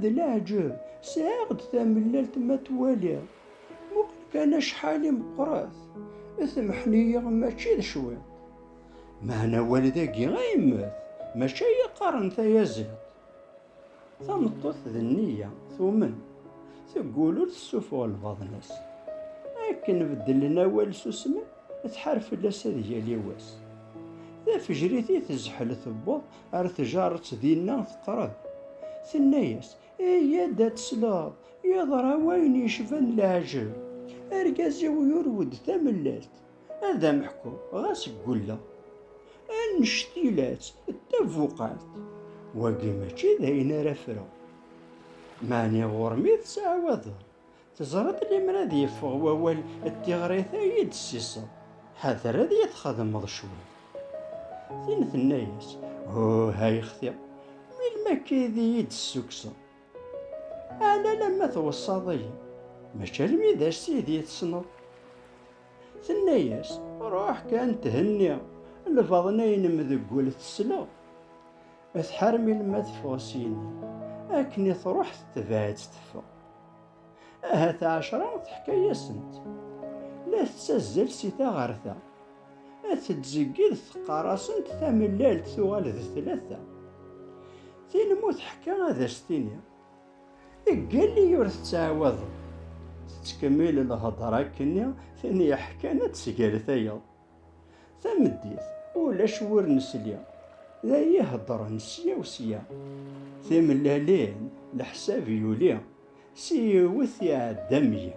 D leɛǧeb, sɛiɣ-d tamellalt ma twaliḍ, muqel kan acḥal i meqqret, temḥen-iyi mačči d cwiṭ. Meɛna awal dagi a yemmet, mačči ay iqqaren tayaziḍt. Tameṭṭut d nniya, tumen, teggul ur tessuffuɣ lbaḍna-s. Akken beddlen awal susmen, tḥar fell-as ad yali wass. D afejrit i tezḥel tewweḍ Ar tjaret dinna teqreb. Tenna-yas, Eyya-d ad tesleḍ, yeḍra wayen yecban leɛǧeb. Argaz-iw yurew-d tamellalt. Ad am-ḥkuɣ, ɣas ggulleɣ. Annect ila-tt d tabuqalt. Wagi mačči d ayen ara ffreɣ. Meɛni ɣur-m i tettɛawadeḍ? Teẓriḍ limer ad yeffeɣ wawal d tiɣrit ay iyi-d-tessiseḍ, ḥader ad iyi-txedmeḍ cwiṭ. Tin tenna-as, Huh, ay xti, melmi akka ay d iyi-d-tessukseḍ? Ɛni alamma tweṣṣaḍ-iyi? Mačči almi d ass ay d iyi-tessneḍ? Tenna-as, Ruḥ kan thenni lbaḍna-nnem deg wul tesleɣ. Tḥar melmi ad teffeɣ syin, akken i truḥ tetbeɛ-itt teffeɣ. Ahat ɛecra teḥka-yasent. La tettazzal si ta ɣer ta. Ad tettzeggid teqqar-asent tamellalt tuɣal d tlata. Tin mu teḥka ad as-tini. Ggalli ur tettɛawadeḍ. Tettkemmil lhedra akkenni tin yeḥkan ad tesger tayeḍ. Tameddit, ulac wur nesli, d ay iheddren sya u sya. Timellalin, leḥsab yuli, s yiwet iɛedda meyya.